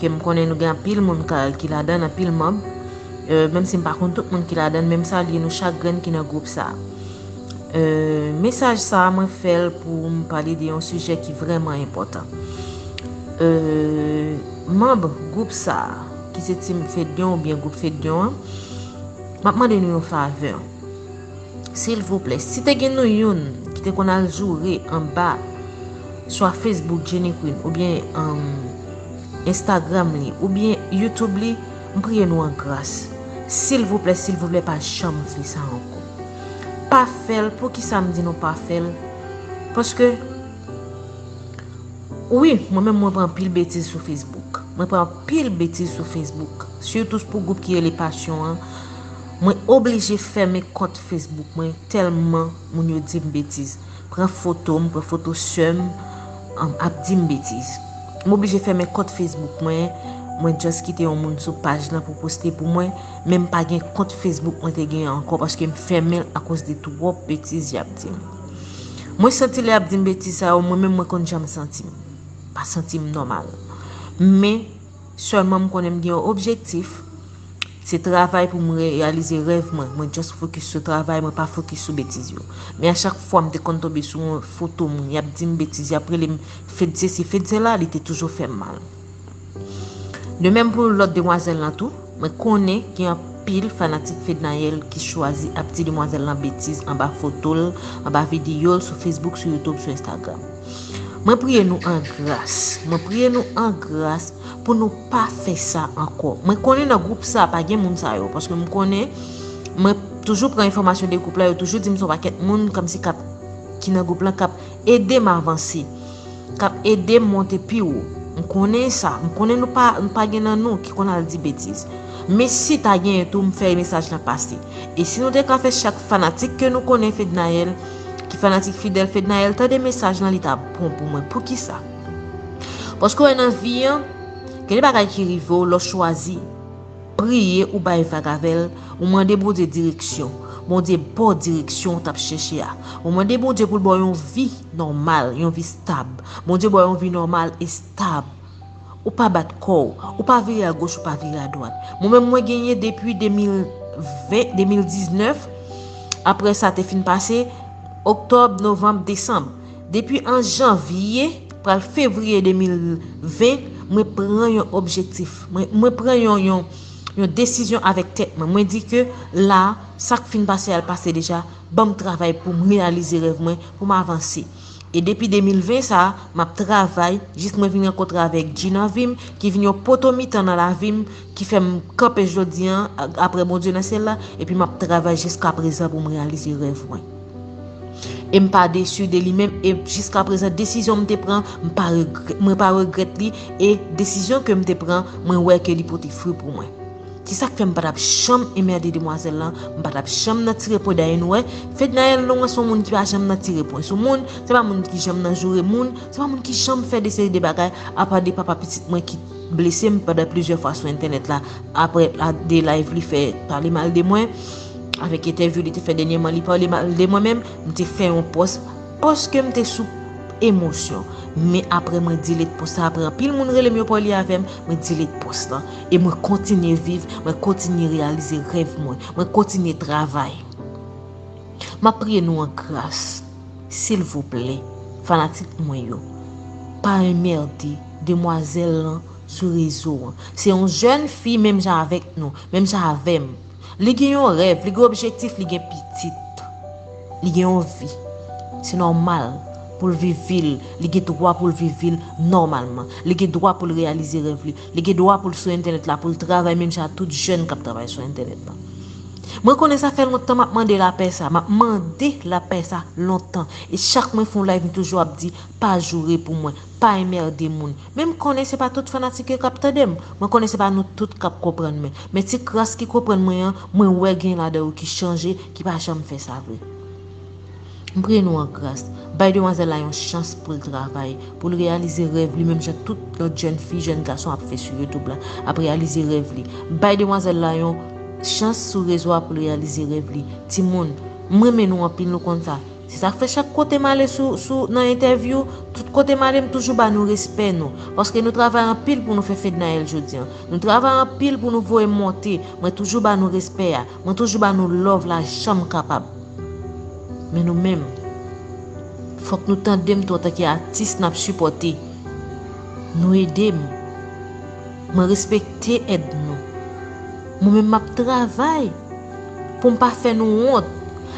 ke m konnen nou gen anpil moun ki ladann anpil manb menm si m pa konn tout moun ki ladann men m salye nou chak grenn ki nan gwoup sa mesaj sa mwen fè l pou m pale de yon sijè ki vrèman enpòtan manb gwoup sa ki se team fedyon oubyen gwoup fedyon an m ap mande nou yon favè silvouplè si te gen nou youn ki te konn al joure anba swa Facebook Jenny Queen oubyen Instagram li oubyen YouTube li m priye nou an gras silvouplè silvouplè pa janm fè sa ankò pa fèl poukisa m di nou pa fèl paske wi mwen menm mwen pran anpil betiz sou Facebook mwen pran anpil betiz sou Facebook sitou pou gwoup ki rele passion an Mwen oblije fèmen kont Facebook mwen tèlman moun yo di m betiz. Pran foto m, pran foto sè m ap di m betiz. M oblije fèmen kont Facebook mwen, mwen just kite yon moun sou paj lan pou poste pou mwen, men m pa gen kont Facebook mwen te gen ankò paske m fèmen l akoz de twòp betiz y ap di m. Mwen santi lè y ap di m betiz sa yo mwen menm mwen konn jan m santi m. M pa santi m nòmal. Men. Sèlman m konnen m gen yon objektif, se travay pou m reyalize rèv mwen, mwen just fokis sou travay mwen pa fokis sou betiz yo. Men a chak fwa m te konn tonbe sou yon foto moun yap di m betiz yap rele m fed sesi fed sela li te toujou fè m mal. De menm pou lòt demwazèl lan tou. Mwen konnen gen anpil fanatik Fednaelle ki chwazi ap di demwazèl lan betiz anba foto l, anba videyo l sou Facebook, sou YouTube, sou Instagram. Mwen priye nou an gras, mwen priye nou an gras pou nou pa fè sa ankò. Mwen konnen nan gwoup sa pa gen moun sa yo, paske m konnen, mwen toujou pran enfòmasyon de gwoup la, yo toujou di m son pakèt moun kòmsi k ap, ki nan gwoup lan k ap ede m avanse. kap edem monte pi wo m konnen sa m konnen nou pa nou pa gen nan nou ki konn al di betiz men si ta genyen tou m fè mesaj lan pase e si nou te ka fè chak fanatik ke nou konnen Fednaelle ki fanatik fidèl Fednaelle tande mesaj lan li ta bon pou mwen poukisa paske w wè nan vi an gen de bagay ki rive w lè w chwazi. Priye ou bay vag avèl, ou mande Bondye direksyon, Bondye baw direksyon ou tap chèche a. Ou mande Bondye poul baw yon vi nòmal, yon vi stab. Bondye baw yon vi nòmal e stab. Ou pa bat kòw, ou pa vire a goch ou pa vire a dwat. Mwen menm mwen genyen depi 2020, 2019, aprè sa te fin pase, oktòb, novanm, desanm. Depi an janvye, pral fevriye 2020, mwen pran yon objektif. Mwen pran yon desizyon avèk tèt mwen. Mwen di ke la, sa k fin pase al pase deja, banm travay pou m reyalize rèv mwen, pou m avanse. E depi 2020 sa, m ap travay, jis mwen vin rankontre avèk Dji nan vi m, ki vin yon poto mitan nan lavi m, ki fè m kanpe jodi an, aprè Bondye nan syèl la, epi m ap travay jiskaprezan pou m reyalize rèv mwen. E m pa desu de li menm e jiskaprezan desizyon m te pran mwen pa regrèt li e desizyon ke m te pran mwen wè ke li pote fri pou mwen. Se sak fè m pa tap janm enmerde demwazèl lan, m pa tap janm nan tire pwen dèyè nou wè, Fednaelle Laurent son moun ki pa janm nan tire pwen sou moun, se pa moun ki janm nan joure moun, se pa moun ki janm fè de seri de bagay apa de papa pitit mwen ki blese m pandan plizyè fwa sou entènèt la aprè de live li fè pale mal de mwen avèk entèvyou li te fè dènyèman li pale mal de mwen menm m te fè yon pòs paske m te sou emosyon men aprè mwen delete pòs la aprè anpil moun rele m yo pale avè m mwen delete pòs la e mwen kontinye viv mwen kontinye reyalize rèv mwen mwen kontinye travay m ap priye nou an gras silvouplè fanatik mwen yo pa enmerde. Demwazèl lan sou rezo an. Se yon jèn fi menm jan avèk nou, menm jan avè m. Li gen yon rèv, li gen objektif, li gen pitit. Li gen yon vi. Se nòmal pou l viv vi l. Li gen dwa pou l viv vi l nòmalman. Li gen dwa pou l reyalize rèv li. Li gen dwa pou l sou entènèt la, pou l travay menm jan ak tout jèn k ap travay sou entènèt la. Mwen konnen sa fè lontan m ap mande lapè sa. M ap mande lapè sa lontan. E chak mwen fè yon layv m toujou ap di, pa joure pou mwen, pa enmerde moun men m konnen se pa tout fanatik yo kap tande m mwen konnen se pa nou tout kap konprann mwen men ti kras ki konprann mwen an mwen wè gen ladan yo ki chanje ki pa janm fè sa vre m priye nou an gras bay demwazèl la yon chans poul travay poul reyalize rèv li menm jan tout lòt jèn fi jèn gason ap fè sou youtube la ap reyalize rèv li bay demwazèl la yon chans sou rezo a poul reyalize rèv li timoun m renmen nou anpil nou konn sa. Se sak fè chak kote m ale sou sou nan entèvyou, tout kote m ale m toujou ba nou respè nou. Paske nou travay anpil pou nou fè Fednaelle jodi an. Nou travay anpil pou nou voye monte, mwen toujou ba nou respè a, mwen toujou ba nou love la jan m kapab. Men nou menm, fòk nou tande m tou antanke atis n ap sipòte. Nou ede m. Mwen respekte èd nou. Mwen menm m ap travay pou m pa fè nou wont.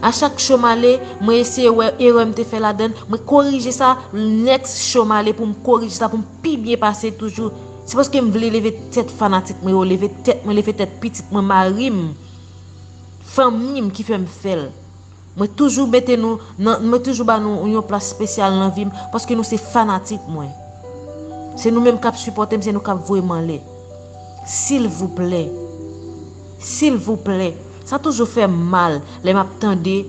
A chak cho m ale, mwen eseye wè erè m te fè ladan l, mwen korije sa, next cho m ale pou m korije sa pou m pi byen pase toujou. Se paske m vle leve tèt fanatik mwen yo, leve tèt mwen, leve tèt pitit mwen, mari m, fanmi m ki fè m fè l. Mwen toujou mete nou nan mwen toujou ba nou yon plas spesyal nan vim paske nou se fanatik mwen se nou menm kap sipòtem se nou kap voyem anlè silvouplè silvouplè sa toujou fèm mal lè map tande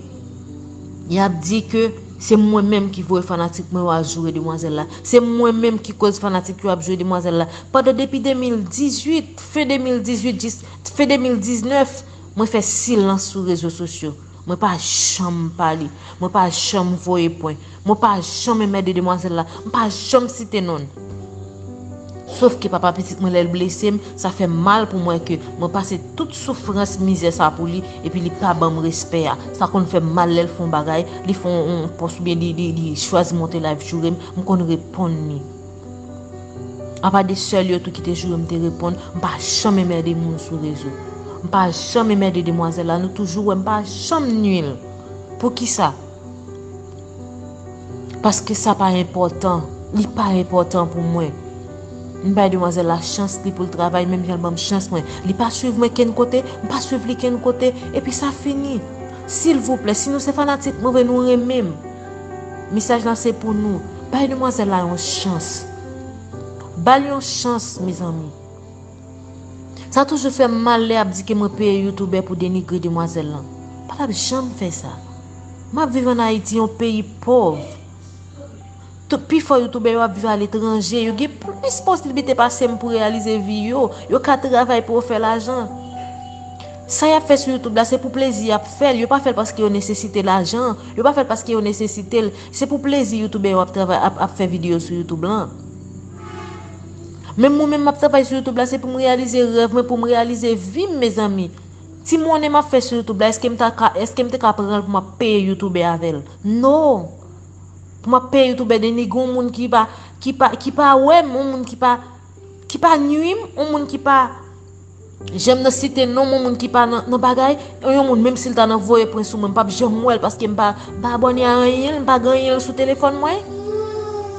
yap di ke se mwen menm ki voye fanatik mwen yo al joure demwazèl la se mwen menm ki koz fanatik yo ap joure demwazèl la pandan depi 2018 fen 2018 jis fen 2019 Mwen fè silans sou rezo sosyo. Mwen pa janm pale. Mwen pa janm voye pwen. Mwen pa janm enmède demwazèl la. M pa janm site non l. Sof ke papa pitit mwen lè l blese m, sa fè m mal pou m wè ke mwen pase tout soufrans, mizè sa pou li, epi li pa ban m respè a. Sa konn fè m mal lè l fè yon bagay, li fè yon pòs oubyen li chwazi monte live joure m, m konn reponn li. Apa de sèl yo tou ki te joure m te reponn m pa janm enmède moun sou rezo. M pa janm enmède demwazèl la nou toujou wè m pa janm nui l. Poukisa? Paske sa pa enpòtan. Li pa enpòtan pou mwen. M bay demwazèl la chans li pou l travay menm jan l ban m chans mwen. Li pa swiv mwen kenn kote, m pa swiv li kenn kote. Epi sa fini. Silvouplè, si nou se fanatik mwen vre nou renmen m. Mesaj la se pou nou bay demwazèl la yon chans. Bal yon chans mezanmi. Sa toujou fèm mal lè yap di ke mwen peye youtoubè pou denigre demwazèl lan. Pa tap janm fè sa. Map viv an Ayiti yon peyi pòv. Tout pi fò youtoubè yo ap viv a letranje. Yo gen plis posiblite pasem pou reyalize vi yo. Yo ka travay pou yo fè lajan. Sa yap fè sou youtube la se pou plezi yap fèl yo pa fèl paske yo nesesite lajan yo pa fèl paske yo nesesitel se pou plezi youtubè yo ap travay ap ap fè video sou youtube lan menm mwen menm map travay sou youtube la se poum reyalize rèv mwen poum reyalize vim mezanmi ti monnen map fè sou youtube la eskem ta ka eskem te ka pranl pou map peye youtubè avèl no pou map peye youtubè deni gon moun ki pa ki pa ki pa wèm on moun ki pa ki pa nwim on moun ki pa Janm nan site non moun moun ki pa nan bagay e yon moun menm sil ta nan voye pwen sou mwen mpap janm wèl paskem pa abòne a anyenl mpa gen anyenl sou telefòn mwen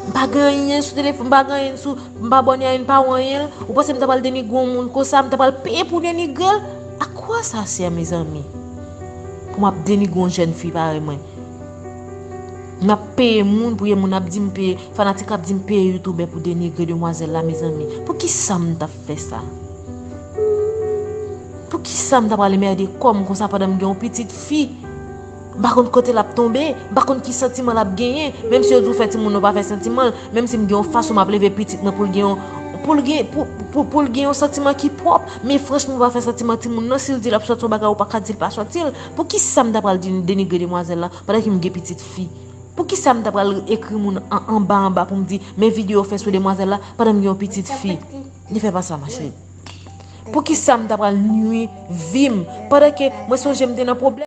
mpa gen anyen sou telefòn mpa gen anyen sou mpa abòne a yn pa ou anyenl ou panse mta pral denigre yon moun konsa mta pral peye pou denigrel a koi sa sè mezanmi pou map denigre yon jèn fi parèy mwen map peye moun pou yon moun ap dim peye fanatik ap dim peye youtubè pou denigre demwazèl la mezanmi poukisa mtap fè sa. Poukisa m ta pral enmède kò m konsa pandan m gen yon pitit fi? M pa konn kote l ap tonbe, m pa konn ki santiman l ap genyen, menm si yo di w fè timoun ou pa fè santiman l, menm si m gen yon fason m ap leve pitit mwen pou l gen yon, pou l gen, pou l gen yon santiman ki pwòp, men franchman ou pa fè santiman timoun nan, si l di l ap sòti yon bagay ou pa ka di l pa sòti l, poukisa m ta pral denigre demwazèl la pandan ke m gen pitit fi? Poukisa m ta pral ekri moun an anba anba pou m di men video w fè sou demwazèl la pandan m gen yon pitit fi li fè pa sa mache. Poukisa m ta pral nwi vi m pandan ke mwen sonje m te nan pwoblèm.